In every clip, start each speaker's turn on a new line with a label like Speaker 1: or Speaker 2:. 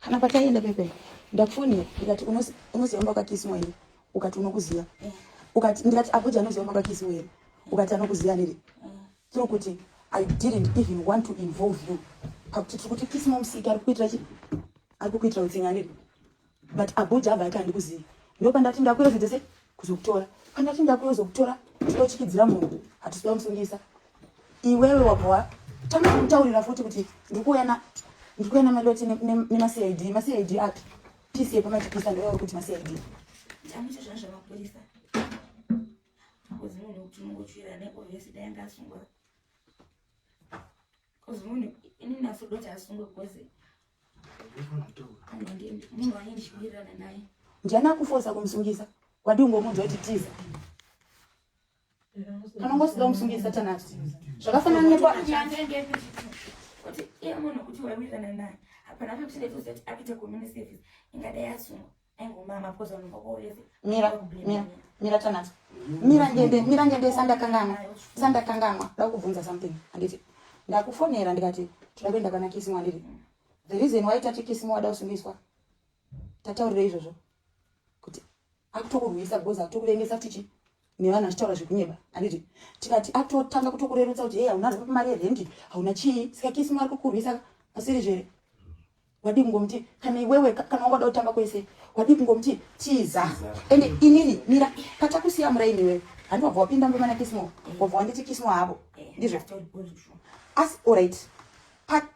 Speaker 1: kana pataienda pepe ndakufonera ndikati unoziva mba kwakakisiwa here ukati unokuziva eh. ukati ndikati abuja anoziva mba kwakakisiwa here ukati anokuziva nere eh. tiri kuti i didn't even want to involve you pakuti tiri kuti kisimamusiki ari kukuitira chi ari kukuitira utsinga nere but abuja abva ati handikuzivi ndopandati ndakuyo zvinhu dzese kuzokutora pandati ndakuyo zokutora tinochikidzira munhu hatisi kuda musungisa iwewe wabva watanga kutaurira futi kuti ndikuuya na ndikuuya namaloti nemacid macid api pisi yepamachipisa ndoyao kuti macid chamucho zvaa zvamapurisa akozimunhu kuti mungochira nekovhesi
Speaker 2: dai ngasungwa Cause munhu ini naso doti asungwe cause munhu ane ndichiwirirana naye. Ndiani akufosa
Speaker 1: kumusungisa? Wadii ungomunzwa kuti tiza. Kana ungosida kumusungisa tanasi. Zvakafanana nepo
Speaker 2: kuti iye munhu kuti wawirirana naye. Hapana kuti ndetozoti apite community service ingadai asungwa. mira mira
Speaker 1: mira tanazo mira ngende mira ngende sandakanganwa sandakanganwa ndakubvunza something anditi ndakufonera ndikati tinoda kuenda kana kisimu anditi the reason why tati kisimu wada kusungiswa tataurira izvozvo kuti akutokurwisa because akutokurengesa tichi nevanhu achitaura zvekunyeba anditi tikati akutotanga kutokurerutsa kuti hei hauna zvapi mari yerendi hauna chii saka kisimu ari kukurwisa asiri zvere wadii kungomuti kana iwewe kana wanga uda kutamba kwese wadii kungomuti tiza ende inini mira patakusiya muraini iwewe handi wabva wapinda mumba mana kismo wabva wanditi kismo havo ndizvo asi orit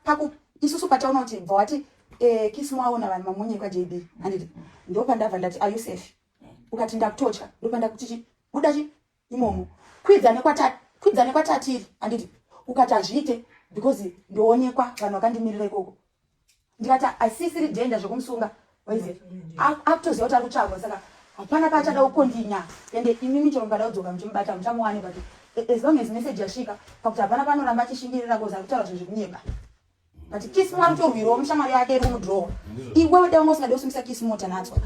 Speaker 1: paku isusu pataona kuti bva wati eh, kismo aona vanhu mamunye kwajb handiti ndopandabva ndati are you safe ukati ndakutotya ndopandakutichi buda chi imomo kwidza nekwatati kwidza nekwatatiri anditi ukati hazviite because ndoonekwa vanhu vakandimirira ikoko ndikati asisiri dhenda zvekumusunga waize akutoziva kuti ari kutsvagwa saka hapana paachada kukondinya ende imimi chero mukada kudzoka muchimubata muchamuwane but as long as message yasvika pakuti hapana panoramba achishingirira kozi ari kutaura zvinhu zvekunyeba but kismo anotorwirawo mushamwari yake iri kumudhirowa iwewe dai wanga usingade kusimbisa kismo tanatswa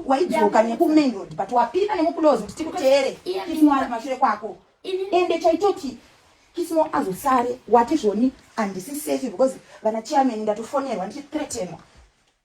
Speaker 1: waidzoka nekumain road but wapinda nemukulozi kuti tikuteere kismo ari kumashure kwako ende chaitoti kismo azosare wati zvoni handisi safe because vana chairman ndatofonerwa ndichithretenwa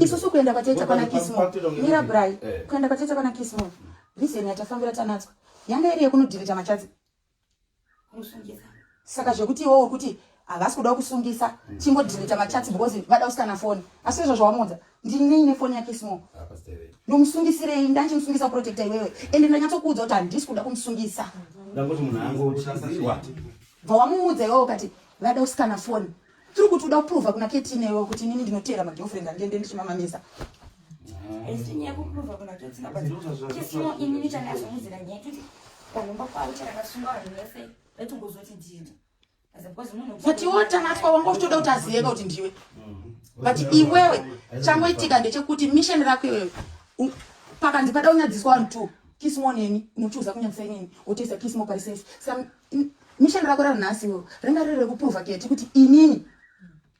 Speaker 1: isusu kuenda kwatete kwana kismo mira bry eh. kuenda kwatete kwana kismo reason yatafambira tanatswa yanga iri yekunodhirita machadzi
Speaker 2: saka
Speaker 1: zvekuti iwowo kuti havasi kuda kusungisa hmm. chingodhirita machadzi because vada usikana foni asi izvo zvawamuudza ndinei nefoni yake small ndomusungisirei ndanchimusungisa protecta iwewe ende ndanyatsokuudza kuti handisi kuda kumusungisa
Speaker 3: bva wamuudza
Speaker 1: iwewo kati vada usikana foni tiri kuti uda kuprova kuna keti newe kuti inini ndinoteera magirlfriend andiende ndichimamamisa but iwe tanatwa wanga uchitoda kuti aziyeka kuti ndiwe but iwewe changoitika ndechekuti mission rako iwewe pakanzi pada unyadziswa vanhu two kismo neni unochiuza kunyadzisa inini wotoisa kismo parisafe Mission rako ranhasi wo ringa riri rekuprova keti kuti inini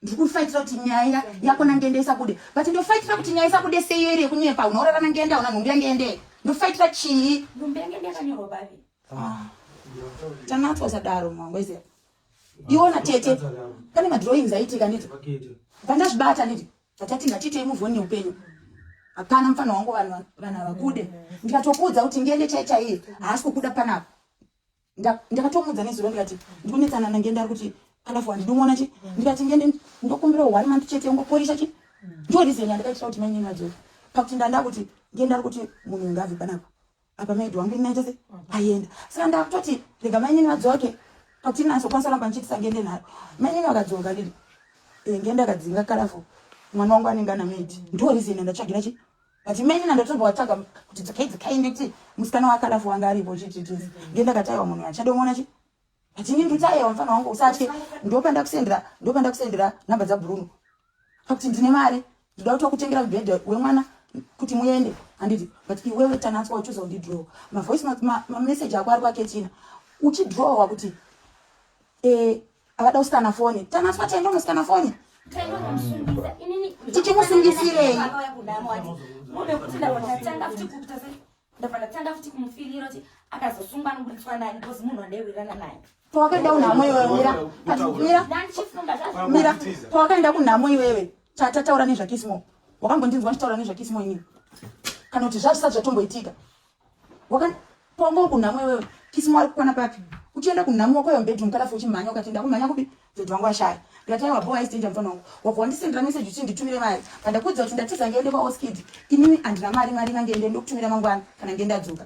Speaker 1: ndiri kufaitira kuti nyaya yako nangende isabude but ndofaitira kuti nyaya isabude seiyo iri yekunyepa unorara nangende auna nhumbi yangende ndofaitira chii nhumbi yangende yakanyorwa
Speaker 2: bavi ah. tanatswa
Speaker 1: usadaro mwangu iziva iona tete pane madrawings aitika niti pandazvibata niti atati ngatiitei muvoni neupenyu hapana mufana wangu vanhu vakude ndikatokuudza kuti ngende chaichaiye haasi kukuda panapa ndakatomuudza nezuro ndikati ndikunetsana nangenda ari kuti alafu handinomuona chi ndikati ngende ndokumbira one month chete ungoporisa chi ndo reason yandakaitira kuti mainini vadzore pakuti ndanda kuti ngenda ari kuti munhu unge abve panapa apa maidi wangu inaita se ayenda saka ndakutoti rega mainini vadzoke pakuti inazokwanisa ramba ndichiitisa ngende nharo mainini vakadzoka ndiri eh, ngenda akadzinga kalafu mwana wangu anenge ana maidi ndo reason yandatsvagira chi But many na ndotombo watsvaga kuti dzikai dzikai nditi musikana wakalafu wanga aripo chititi ndiye ndakataiwa munhu achadomona chi but ini nditaiwa mfana wangu usatye ndopanda kusendera ndopanda kusendera number dza Bruno pakuti ndine mari ndoda kuti wakutengera mubhedha wemwana kuti muende handiti but iwewe tanatswa uchiuza kundi draw mavoice mameseji ako ari kwaketina uchidrawa kuti e, Akada kusikana foni. Tanaswa tiende kunosikana foni.
Speaker 2: Tichimusungisirei? Ndapanda futi kumufirira kuti akazosungwa nokuburitswa naye because munhu wandaiwirirana naye. Pawakaenda kunhamo iwe
Speaker 1: mira. Mira. Mira. Pawakaenda kunhamo iwewe. Tata taura nezvakismo. Wakambondinzwa ndichitaura nezvakismo ini. Kana kuti zvazvisati zvatomboitika. Wakangongo kunhamo iwewe. Kisi mwari kukwana papi? Uchienda kunhamo wako yomubedroom kana fuchi mhanya ukati ndakumhanya kupi? Dhodhi wangu ashaya. Ndikati aiwa bowa isitenja mfana wangu. Wabva wandisendera message uchi nditumire mari. Pandakuudza kuti ndatiza ngende kwa Oskid. Inini andina mari mari inange ende ndokutumira mangwana kana ngenda dzoka.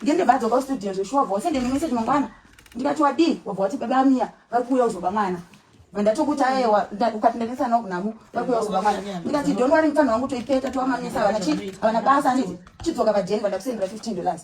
Speaker 1: Ngende vadzoka studio zveshuwa vose ndine message mangwana. Ndikati wadii? Wabva wati baba Mia vari kuuya uzoba mwana. ndatokuti aewa ukati ndainisa nawo kunamu vakuyakuba mwana ndikati don't worry mfana wangu toipeta towamamisa havana chii havana basa aniti chidzoka padeni vandakusendera fifteen dollars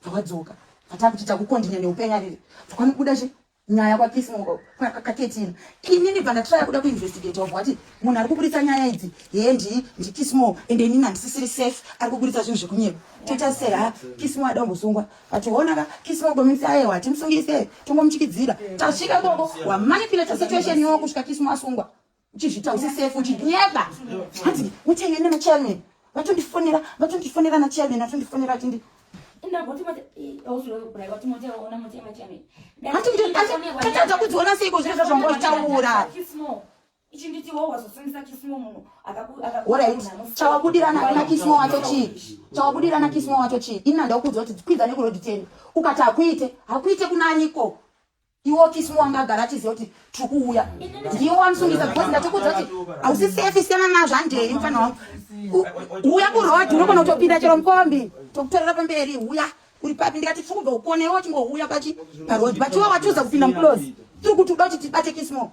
Speaker 1: vakadzoka vatava kuti takukondinya neupenyu ariri vakanobuda chi nyaya kwakismo kaketina ini ndibva ndatraya kuda kuinvestigate wabva wati munhu ari kuburitsa nyaya idzi hee ndii ndikismo ende inini handisisiri safe ari kuburitsa zvinhu zvekunyepa toita sei ha kismo ada kumbosungwa ationa ka kisi vagomitsa ayewa timusungise tongomuchikidzira tasvika ikoko wamanipulate situation yowo kusvika kisi mwasungwa uchizvita usi safe uchinyeba hanzi muchenge ne machairman vatondifonera vatondifonera na chairman vatondifonera tindi
Speaker 2: hatikuti
Speaker 1: tatadza kudziona seiko zviro zvazvambotaura chawabudirana na kismo wacho chii chawabudirana kismo wacho chii ini andaukuudza kuti dzikwidza nekurodi teni ukati hakuite hakuite kunaniko iwo kismo wanga agara achiziva kuti tiri kuuya ndiwo wamusungisa because ndatikuudza kuti hausi safe siyana nazvo handei mfana wangu uya kurod unogona kutopinda chero mukombi tokutorera pamberi uya uri papi ndikati tiri kubva kukonewo chingouya pachi parod but iwo watiudza kupinda muclose tiri kuti uda kuti tibate kismo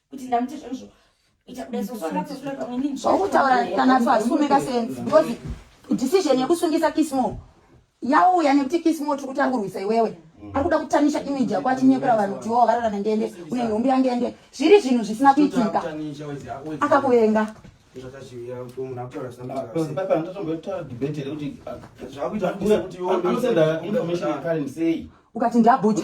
Speaker 2: kuti ndamuti zvoizvo zvokutaura kana
Speaker 1: pasume kasenzi because decision yekusungisa kismo yauya nekuti kismo tiri kuti angurwisa iwewe ari kuda kutamisha image yako achinyepera vanhu kuti wo varara nengende une nhumbi yangende zviri zvinhu zvisina kuitika akakuvenga ukati ndabhuja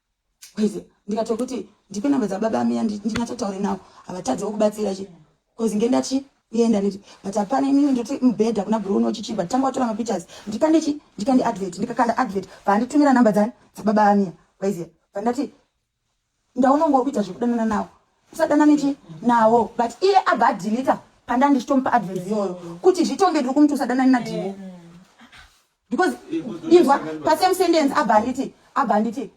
Speaker 1: Kwezi ndikatokuti ndipe number dza baba miya ndinyatsotaure nawo havatadze wokubatsira chi kozi ngendachi yenda niti but hapana imimi ndoti mubhedha kuna bro uno chichiba tanga watora mapictures ndikande chi ndikande advert ndikakanda advert paanditumira number dzani dzababa amiya kwaiziya pandati ndaona unge wakuita zvekudanana nawo usadanane chi nawo but iye abva adilita pandandi chitomupa advert iyoyo kuti zvitonge ndiri kumuti usadanane nadhimo mm. because inzwa pasame sentence abva nditi abva nditi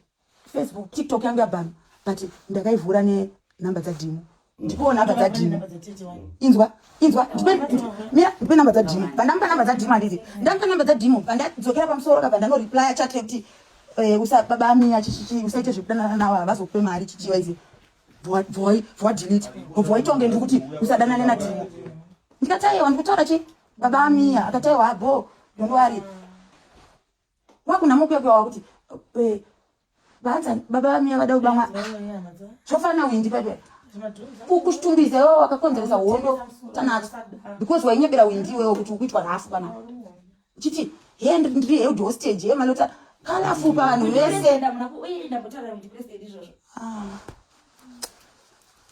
Speaker 1: facebook tiktok yangu yabhama but ndakaivhura nenumbe dzadhimu ndipowo numbe dzadhimu inzwa inzwa mira ndipe numbe dzadhimu pandamupa numbe dzadhimu handiti ndamupa numbe dzadhimu pandadzokera pamusoro kabva ndanoreplya chat yekuti eh, usababa amiya chichichi usaite zvekudanana nawo havazokupe mari chichiwa izi bvoi bvoa delete bvoi tonge ndikuti usadanane nadhimu ndikataiwa ndikutaura chii Baba Amia akati aiwa bho don't worry. Wakuna mukwekwe wakuti eh, vanza baba Amia vada kubamwa. Zvofana windi baba. Kukushtumbiza iwe wakakonzeresa hondo tanacho because wainyebera windi iwe kuti ukuitwa nhafu kana. Chiti hand ndiri head hostage yemalota kalafu pano vese. Ah.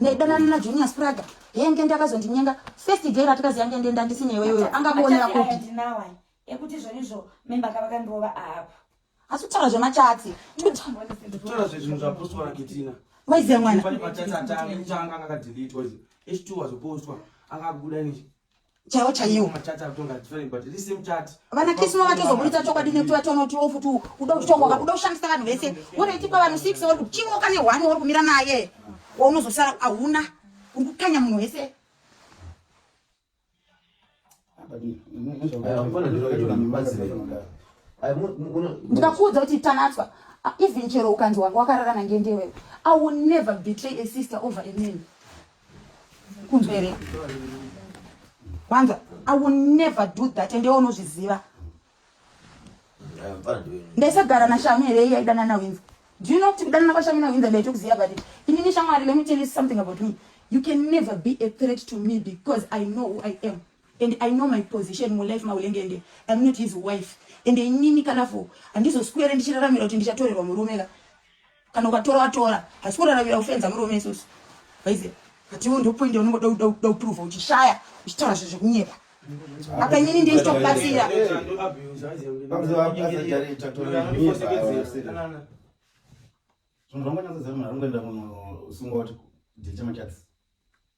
Speaker 4: ndaidanana
Speaker 1: najunior spraga yenge ndakazondinyenga first day ratikazi yange ndenda ndisineweyoyo angakuonera kupi ekuti
Speaker 2: zvonizvo memba kavakandirova apa Asi kutaura
Speaker 1: zvemachatsi. Kutaura
Speaker 5: zvinhu zvapostwa na Ketina. Waiziva mwana. Pane
Speaker 1: machatsi atanga
Speaker 5: kutanga akadeletewa izvi. H2 wazopostwa akabuda nje. Chaiwo chaiwo.
Speaker 1: Machatsi akutonga different
Speaker 5: but this same chat. Vana Kismo vatozoburitsa
Speaker 1: chokwadi nekuti vatoona kuti ofu tu kuda kutonga kuda kushandisa vanhu vese. Wonoiti pa vanhu 6 wori kuchiwo kane one wori kumira naye. Waunozosara ahuna. Uri kukanya munhu wese. ndikakuudza kuti tanatswa even chero ukanzi wanga wakararana ngendewewe i will never betray a sister over a man kunzwa here wanza i will never do that ende unozviziva ndaisagara nashamu here iye aidana nawinza do you know kuti kudanana kwashamu nawinza ndaitokuziva but inini shamwari let me tell you something about me you can never be a threat to me because i know who i am and i know my position mulife maulenge ende im not his wife ende inini kanafo handizoswere ndichiraramira kuti ndichatorerwa murume ka kana ukatora watora hasi kuraravira kufenza murume isusu vaiziva but iwo ndopoindi unongoda kuda kuda kuprova uchishaya uchitaura zvinhu zvekunyepa apa inini ndiye chitokubatsira zvinhu
Speaker 3: zvangonyatsoziva munhu aringoenda munhu usingoti ndichemachats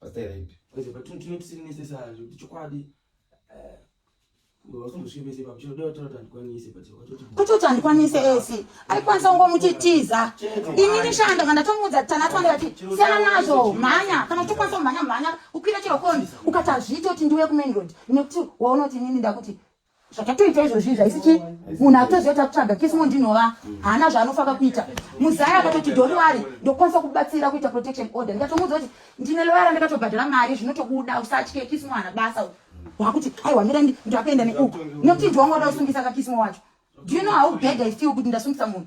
Speaker 3: Pastor Rape. Kwese patino tino tisini
Speaker 5: nese saa zvekuti chokwadi eh, vakumbosvibese papo chinoda kuti toti handikwanise but wakatoti kutoti handikwanise
Speaker 1: esi aikwanisa kungo muchitiza ini ndishanda kana ndatomuudza kuti tana twanga ti siyana nazvo mhanya kana uchikwanisa kumhanya mhanya ukwira chero koni ukati hazviiti kuti ndiuye kumain road nekuti waunoti inini ndakuti zvakatoita izvozvi zvaisi chii munhu akutoziva takutsvaga kismo ndinova haana zvaanofaka kuita muzaya akatoti doriwari ndokwanisa kubatsira kuita protection order ndikatomuudza kuti ndine loyara ndakatobhadhara mari zvinotokuda usatye kismo hana basa wakuti aiwa mira ndakaenda neuku nokuti ndiwanga uda kusungisa kakismo wacho do you know how bad i feel kuti ndasungisa munhu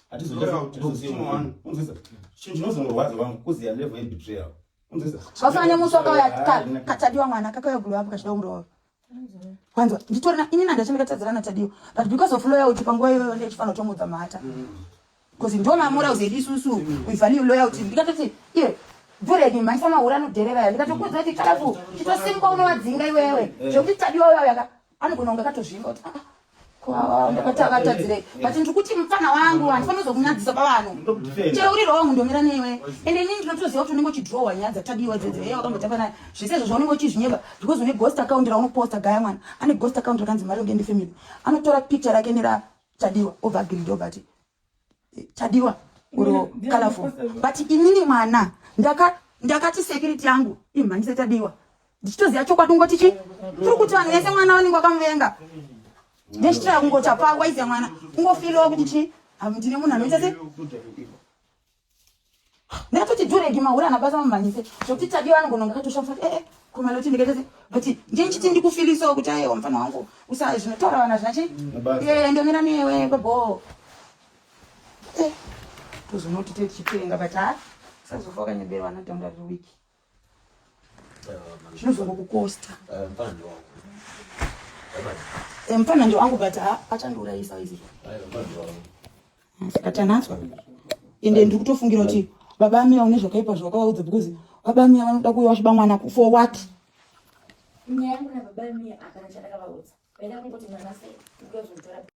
Speaker 3: zvasanya musi wakauya
Speaker 1: katadiwa mwana kakauya gulu vapo kachida kumurova wanzwa nditorina ini nandachandikatadzira natadiwa but because of loya uti panguva iyoyo ndichifanira kutomudza mhata bcause ndo mamura uzedi isusu uivalue loya uti ndikatoti iye bhureki mhaisa mahura anodherera ya ndikatokuudza kuti kalafu chitosimuka unovadzinga iwewe zvekuti tadiwa uya uyaka anogona kunge akatozvinga kuti ah, ah, ndakatavatadzireyi but ndiri kuti mupfana wangu handifani kuzokunyadzisa pavanhu chero uri wrong ndomira newe and ini ndinotoziva kuti unenge uchidrowa nyaya dzatadiwa dzedzo heye wakambotamba naye zvese izvo zvaunenge uchizvinyeba because une ghost account raunoposta gaya mwana ane ghost account rakanzi mari ungende family anotora picture rake neratadiwa obva agiridi obati chadiwa uro colorful but inini mwana ndaka ndakati security yangu imhanyise chadiwa ndichitoziva chokwadi ungoti chi tiri kuti vanhu vese mwana vanenge vakamuvenga ndechitira kungoti hapaa waiziva mwana ungofiliwa kuti chi ndine munhu anoita se Ndakatoti duregi mahura anabasa mamhanyise zvokuti tadiwa anogona kunge akatoshamisa kuti ee eh, eh, kumaloti ndikatoti but ndiye ndichiti ndikufilisawo kuti ayewa mfana wangu usa zvinotaura vana zvina chii ee eh, ndomira newe baboo tozonoti tochipenga but ha sazofa wakanyeberwa anatanga riri wiki zvinozongo kukosta mfana ndio wangu but achandiurayisa
Speaker 4: izi atanaswa
Speaker 1: ende ndiri kutofungira kuti baba amira une zvakaipa zvawakawaudza because baba amira vanoda kuuya vachiba mwana for what nyaya
Speaker 2: yangu nababa amira hapana chandakavaudza vaida kungoti mwana sei